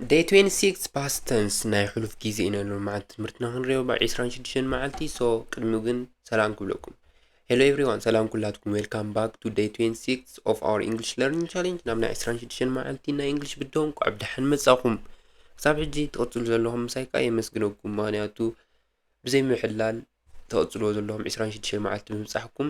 ደይ 26 ፓስተንስ ናይ ሕሉፍ ግዜ ኢና ሎ መዓልቲ ትምህርትና ክንሪኦ ባ 26 መዓልቲ ሶ ቅድሚ ግን ሰላም ክብለኩም ሄሎ ኤቭሪዋን ሰላም ኩላትኩም ዌልካም ባክ ቱ ደይ 26 ኦፍ ኣወር ኢንግሊሽ ለርኒንግ ቻሌንጅ ናብ ናይ 26 መዓልቲ ናይ ኢንግሊሽ ብድሆን ቋዕ ብድሓን መጻኹም ክሳብ ሕጂ ትቕጽሉ ዘለኹም ምሳይ ከዓ የመስግነኩም ምክንያቱ ብዘይ ምሕላል ተቕጽልዎ ዘለኹም 26 መዓልቲ ብምብጻሕኩም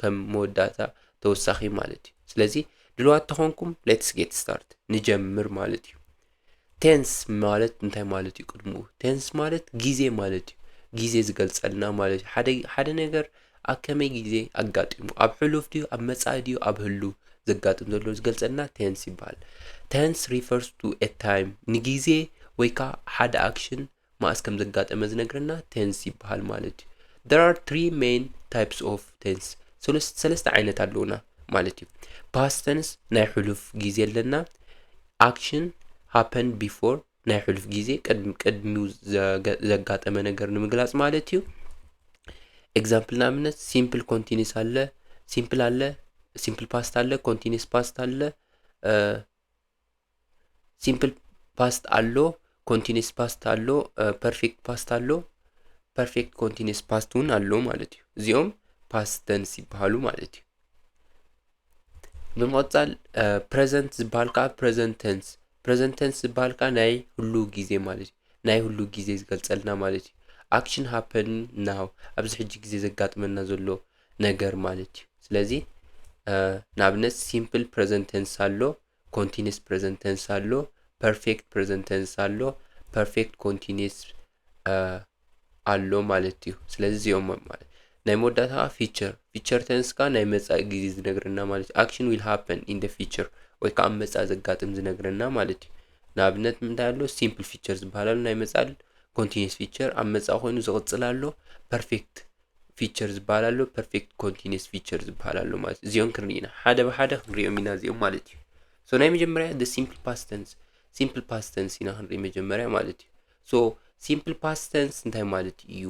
ከም መወዳእታ ተወሳኺ ማለት እዩ ስለዚ ድልዋት ተኾንኩም ሌትስ ጌት ስታርት ንጀምር ማለት እዩ ቴንስ ማለት እንታይ ማለት እዩ ቅድምኡ ቴንስ ማለት ግዜ ማለት እዩ ግዜ ዝገልጸልና ማለት እዩ ሓደ ሓደ ነገር ኣብ ከመይ ግዜ ኣጋጢሙ ኣብ ሕሉፍ ድዩ ኣብ መጻኢ ድዩ ኣብ ህሉ ዘጋጥም ዘሎ ዝገልጸልና ቴንስ ይበሃል ቴንስ ሪፈርስ ቱ ኤ ታይም ንግዜ ወይ ከዓ ሓደ ኣክሽን ማእስ ከም ዘጋጠመ ዝነግረና ቴንስ ይበሃል ማለት እዩ there are three main types of tense ሰለስተ ዓይነት ኣለውና ማለት እዩ past tense ናይ ሕሉፍ ግዜ ኣለና action happened before ናይ ሕሉፍ ግዜ ቅድሚው ዘጋጠመ ነገር ንምግላጽ ማለት እዩ ኤግዛምፕል ንኣብነት ሲምፕል ኮንቲኒስ ኣለ ሲምፕል ኣለ ሲምፕል ፓስት ኣለ ኮንቲኒስ ፓስት ኣለ ሲምፕል ፓስት ኣሎ፣ ኮንቲኒስ ፓስት ኣሎ፣ ፐርፌክት ፓስት ኣሎ፣ ፐርፌክት ኮንቲኒስ ፓስት እውን ኣሎ ማለት እዩ። እዚኦም ፓስት ተንስ ይበሃሉ ማለት እዩ። ብምቕፃል ፕሬዘንት ዝበሃል ከዓ ፕሬዘንት ተንስ ፕሬዘንት ተንስ ዝበሃል ከዓ ናይ ህሉ ግዜ ማለት እዩ። ናይ ህሉ ግዜ ዝገልፀልና ማለት እዩ። ኣክሽን ሃፐን ናው ኣብዚ ሕጂ ግዜ ዘጋጥመና ዘሎ ነገር ማለት እዩ። ስለዚ ንኣብነት ሲምፕል ፕረዘንት ተንስ ኣሎ፣ ኮንቲኒስ ፕረዘንት ተንስ ኣሎ፣ ፐርፌክት ፕረዘንት ተንስ ኣሎ፣ ፐርፌክት ኮንቲኒስ ኣሎ ማለት እዩ። ስለዚ እዚኦም ማለት ናይ መወዳእታ ከዓ ፊቸር ፊቸር ተንስ ከዓ ናይ መፃኢ ግዜ ዝነግረና ማለት እዩ። ኣክሽን ዊል ሃፐን ኢን ደ ፊቸር ወይ ከዓ ኣብ መፃኢ ዘጋጥም ዝነግረና ማለት እዩ። ንኣብነት ምንታይ ኣሎ ሲምፕል ፊቸር ዝበሃል ኣሎ ናይ መፃኢ ኮንቲኒስ ፊቸር ኣብ መፃኢ ኮይኑ ዝቕፅል ኣሎ ፐርፌክት ፊቸር ዝበሃል ኣሎ ፐርፌክት ኮንቲኒስ ፊቸር ዝበሃል ኣሎ ማለት እዩ እዚኦም ክንርኢ ኢና ሓደ ብሓደ ክንሪኦም ኢና እዚኦም ማለት እዩ ሶ ናይ መጀመርያ ደ ሲምፕል ፓስተንስ ሲምፕል ፓስተንስ ኢና ክንርኢ መጀመርያ ማለት እዩ ሶ ሲምፕል ፓስተንስ እንታይ ማለት እዩ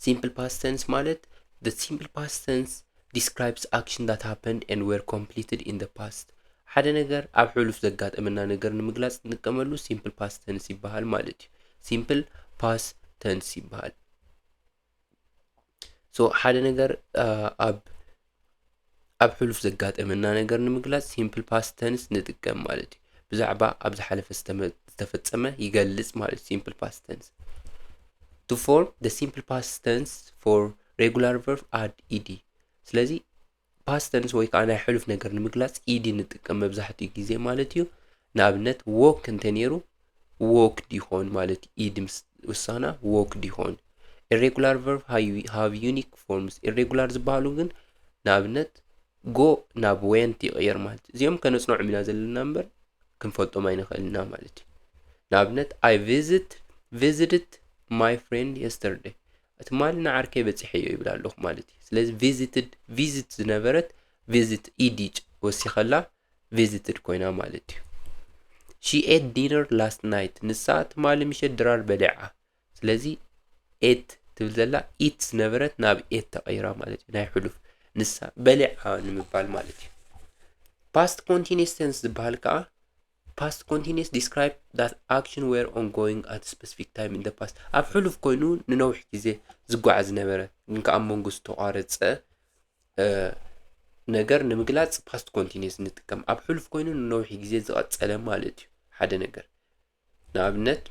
ሲምፕል ፓስተንስ ማለት ደ ሲምፕል ፓስተንስ ዲስክራይብስ ኣክሽን ዳት ሃፐንድ ኤንድ ዌር ኮምፕሊትድ ኢን ደ ፓስት ሓደ ነገር ኣብ ሕሉፍ ዘጋጠመና ነገር ንምግላፅ እንጥቀመሉ ሲምፕል ፓስተንስ ይበሃል ማለት እዩ ሲምፕል ፓስተንስ ይበሃል ሶ ሓደ ነገር ኣብ ኣብ ሕሉፍ ዘጋጠመና ነገር ንምግላጽ ሲምፕል ፓስት ተንስ ንጥቀም ማለት እዩ ብዛዕባ ኣብ ዝሓለፈ ዝተመ- ዝተፈጸመ ይገልጽ ማለት እዩ ሲምፕል ፓስት ተንስ to form the simple past tense for regular verb add ed ስለዚ ፓስት ተንስ ወይ ከዓ ናይ ሕሉፍ ነገር ንምግላፅ ኢዲ ንጥቀም መብዛሕትኡ ግዜ ማለት እዩ ንኣብነት ዎክ እንተነይሩ ዎክ ዲኾን ማለት እዩ ኢድ ምስ ውሳና ዎክ ዲኾን ኢሬጉላር ቨርብ ሃቭ ዩኒክ ፎርምስ ኢሬጉላር ዝበሃሉ ግን ንኣብነት ጎ ናብ ወንት ይቕየር ማለት እዩ እዚኦም ከነፅንዖም ኢና ዘለና እምበር ክንፈልጦም ኣይንኽእልና ማለት እዩ ንኣብነት ኣይ ቪዝት ቪዝድት ማይ ፍሬንድ የስተርደይ ትማሊ ንዓርከይ በጺሐዮ ይብል ኣለኹ ማለት እዩ ስለዚ ቪዚትድ ቪዚት ዝነበረት ቪዚት ኢዲ ወሲኸላ ቪዚትድ ኮይና ማለት እዩ ሺ ኤት ዲነር ላስት ናይት ንሳ ትማሊ ምሸት ድራር በሊዓ ስለዚ ኤት ትብል ዘላ ኢት ዝነበረት ናብ ኤት ተቐይራ ማለት እዩ ናይ ሕሉፍ ንሳ በሊዓ ንምባል ማለት እዩ ፓስት ኮንቲኒስ ቴንስ ዝበሃል ከዓ Past Continuous Describes that action were ongoing at a specific time in the past ኣብ ሕሉፍ ኮይኑ ንነዊሕ ግዜ ዝጓዓዝ ዝነበረ ግን ከዓ ኣብ መንጎ ዝተቋረፀ እ፣ ነገር ንምግላፅ ፓስት ኮንቲኒስ ንጥቀም ኣብ ሕሉፍ ኮይኑ ንነዊሕ ግዜ ዝቐፀለ ማለት እዩ ሓደ ነገር ንኣብነት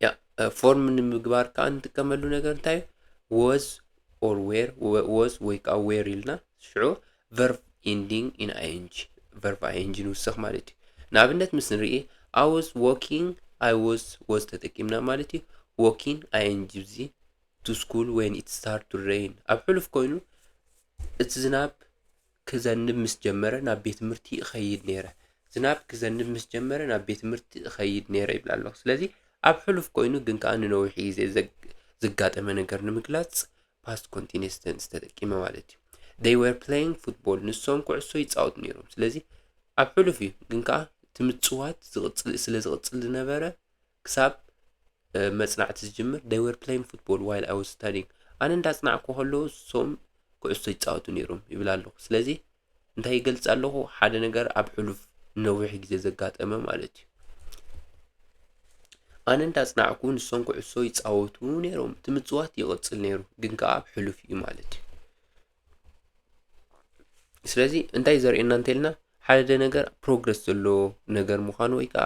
ያ ፎርም ንምግባር ከዓ እንጥቀመሉ ነገር እንታይ እዩ ወዝ ኦር ዌር ወዝ ወይ ከዓ ዌር ኢልና ሽዑ ቨርብ ኢንዲንግ ኢን ኣይንጂ ቨርብ ኣይንጂ ንውሰኽ ማለት እዩ ንኣብነት ምስ ንርኢ ኣወዝ ዎኪንግ ኣይወዝ ወዝ ተጠቂምና ማለት እዩ ዎኪን ኣይንጂ ብዚ ቱ ስኩል ወይን ኢት ስታርት ቱ ሬይን ኣብ ሕሉፍ ኮይኑ እቲ ዝናብ ክዘንብ ምስ ጀመረ ናብ ቤት ትምህርቲ እኸይድ ነይረ ዝናብ ክዘንብ ምስ ጀመረ ናብ ቤት ትምህርቲ እኸይድ ነይረ ይብል ኣለኹ ስለዚ ኣብ ሕሉፍ ኮይኑ ግን ከዓ ንነዊሕ ግዜ ዘጋጠመ ነገር ንምግላፅ ፓስት ኮንቲኒስ ቴንስ ተጠቂመ ማለት እዩ they were playing football ንሶም ኩዕሶ ይጻወቱ ነይሮም ስለዚ ኣብ ሕሉፍ እዩ ግን ከዓ እቲ ምፅዋት ዝቕፅል ስለ ዝቕፅል ዝነበረ ክሳብ መፅናዕቲ ዝጅምር they were playing football while I was studying ኣነ እንዳፅናዕኩ ከለዉ ንሶም ኩዕሶ ይፃወቱ ነይሮም ይብል ኣለኹ ስለዚ እንታይ ይገልጽ ኣለኹ? ሓደ ነገር ኣብ ሕሉፍ ንነዊሕ ግዜ ዘጋጠመ ማለት እዩ። ኣነ እንዳጽናዕኩ ንሶም ኩዕሶ ይጻወቱ ነይሮም እቲ ምጽዋት ይቕጽል ነይሩ ግን ከዓ ኣብ ሕሉፍ እዩ ማለት እዩ ስለዚ እንታይ ዘርእየና እንተልና ሓደ ነገር ፕሮግረስ ዘለዎ ነገር ምዃኑ ወይ ከዓ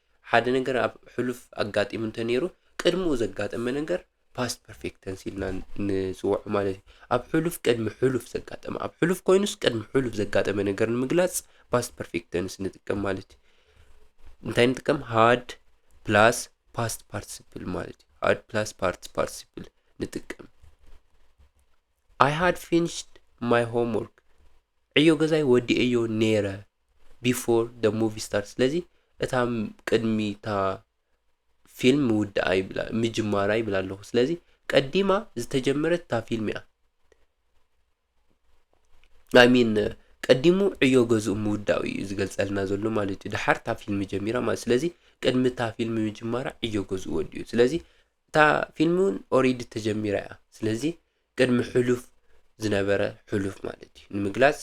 ሓደ ነገር ኣብ ሕሉፍ ኣጋጢሙ እንተነይሩ ቅድምኡ ዘጋጠመ ነገር ፓስት ፐርፌክት ተንስ ኢልና ንፅውዖ ማለት እዩ ኣብ ሕሉፍ ቅድሚ ሕሉፍ ዘጋጠመ ኣብ ሕሉፍ ኮይኑስ ቅድሚ ሕሉፍ ዘጋጠመ ነገር ንምግላፅ ፓስት ፐርፌክት ተንስ ንጥቀም ማለት እዩ እንታይ ንጥቀም ሃድ ፕላስ ፓስት ፓርቲሲፕል ማለት እዩ ሃድ ፕላስ ፓርት ፓርቲሲፕል ንጥቀም ኣይ ሃድ ፊኒሽድ ማይ ሆምወርክ ዕዮ ገዛይ ወዲኤዮ ነይረ ቢፎር ደ ሙቪ ስታርት ስለዚ እታ ቅድሚ እታ ፊልም ምውዳኣ ይብላ ምጅማራ ይብላ ኣለኹ ስለዚ ቀዲማ ዝተጀመረት እታ ፊልም እያ ሚን ቀዲሙ ዕዮ ገዝኡ ምውዳኡ እዩ ዝገልጸልና ዘሎ ማለት እዩ ድሓር እታ ፊልም ጀሚራ ማለት ስለዚ ቅድሚ እታ ፊልም ምጅማራ ዕዮ ገዝኡ ወዲኡ ስለዚ እታ ፊልም ውን ኦሪዲ ተጀሚራ እያ ስለዚ ቅድሚ ሕሉፍ ዝነበረ ሕሉፍ ማለት እዩ ንምግላጽ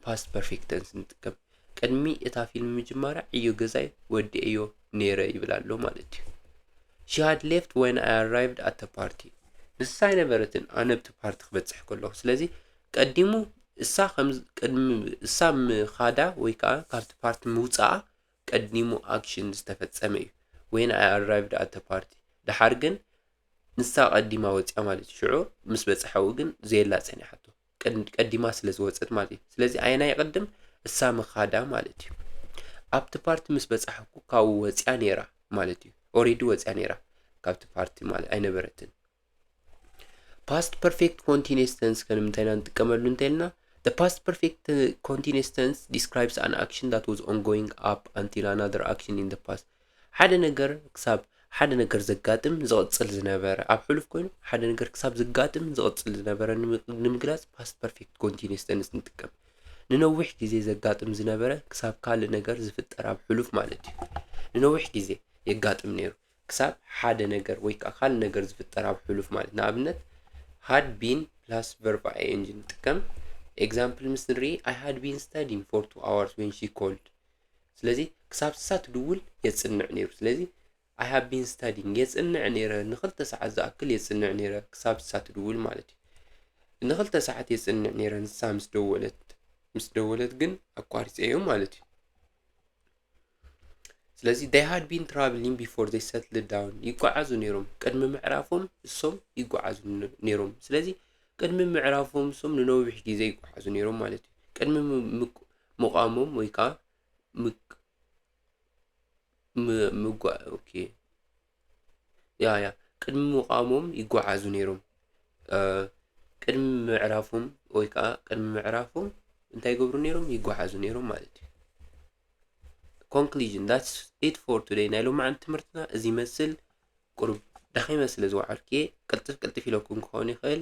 ፓስት ፐርፌክት ተንስ ንጥቀም ቅድሚ እታ ፊልም ምጅማራ ዕዮ ገዛይ ወዲኤዮ ነይረ ይብል ኣሎ ማለት እዩ ሺ ሃድ ሌፍት ወን ኣይ ኣራይቭድ ኣተ ፓርቲ ንሳ ኣይነበረትን ኣነ ብቲ ፓርቲ ክበፅሕ ከለኹ ስለዚ ቀዲሙ እሳ ከም ቅድሚ እሳ ምኻዳ ወይ ከዓ ካብቲ ፓርቲ ምውፃኣ ቀዲሙ ኣክሽን ዝተፈጸመ እዩ when I arrived at the party ደሓር ግን ንሳ ቀዲማ ወጽያ ማለት እዩ ሽዑ ምስ በጽሓኡ ግን ዘየላ ጸኒሓቶ ቀድ- ቀዲማ ስለ ዝወጸት ማለት እዩ ስለዚ ኣየና ይቕድም እሳ ምኻዳ ማለት እዩ ኣብቲ ፓርቲ ምስ በጻሕኩ ካብኡ ወጽያ ነይራ ማለት እዩ ኦሬዲ ወጽያ ነይራ ካብቲ ፓርቲ ማለት ኣይነበረትን ፓስት ፐርፌክት ኮንቲኒስ ተንስ ከንም እንታይ ኢና ንጥቀመሉ እንተልና the past perfect uh, continuous tense describes an action that was ongoing up until another action in the past ሓደ ነገር ክሳብ ሓደ ነገር ዘጋጥም ዝቕፅል ዝነበረ ኣብ ሕሉፍ ኮይኑ ሓደ ነገር ክሳብ ዘጋጥም ዝቕፅል ዝነበረ ንምግላፅ ፓስት ፐርፌክት ኮንቲኒስ ተንስ ንጥቀም ንነዊሕ ግዜ ዘጋጥም ዝነበረ ክሳብ ካልእ ነገር ዝፍጠር ኣብ ሕሉፍ ማለት እዩ ንነዊሕ ግዜ የጋጥም ነይሩ ክሳብ ሓደ ነገር ወይ ከኣ ካልእ ነገር ዝፍጠር ኣብ ሕሉፍ ማለት ንኣብነት had been plus verb ing ንጥቀም ኤግዛምፕል ምስ ንርኢ ኣይ ሃድ ቢን ስታዲን ፎር ቱ ኣዋርስ ዌን ሺ ኮልድ ስለዚ ክሳብ ንሳ ትድውል የፅንዕ ነይሩ ስለዚ ኣይ ሃብ ቢን ስታዲንግ የፅንዕ ነይረ ንክልተ ሰዓት ዝኣክል የፅንዕ ነይረ ክሳብ ንሳ ትድውል ማለት እዩ ንክልተ ሰዓት የፅንዕ ነይረ ንሳ ምስ ደወለት ምስ ደወለት ግን ኣቋሪፀዮ ማለት እዩ ስለዚ they had been traveling before they settled down ይጓዓዙ ነይሮም ቅድሚ ምዕራፎም እሶም ይጓዓዙ ነይሮም ስለዚ ቅድሚ ምዕራፎም እሶም ንነዊሕ ግዜ ይጓዓዙ ነይሮም ማለት እዩ ቅድሚ ምቋሞም ወይ ከዓ ምጓ ኦኬ ያ ያ ቅድሚ ምቛሞም ይጓዓዙ ነይሮም ቅድሚ ምዕራፎም ወይ ከዓ ቅድሚ ምዕራፎም እንታይ ይገብሩ ነይሮም ይጓዓዙ ነይሮም ማለት እዩ ኮንክሉዥን ዳትስ ኢት ፎር ቱደይ ናይ ሎማዓንቲ ትምህርትና እዚ ይመስል ቁሩብ ደኺመ ስለ ዝወዓልኩ እየ ቅልጥፍ ቅልጥፍ ኢለኩም ክኸውን ይኽእል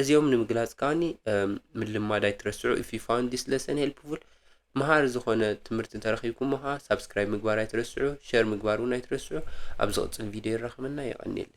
እዚኦም ንምግላጽ ከኣኒ ምልማድ ኣይትረስዑ if you found this lesson helpful መሃሪ ዝኾነ ትምህርቲ እንተረኺብኩሞ ከዓ ሳብስክራይብ ምግባር ኣይትረስዑ ሸር ምግባር እውን ኣይትረስዑ ኣብ ዝቕጽል ቪድዮ ይራኸበና የቐኒየለይ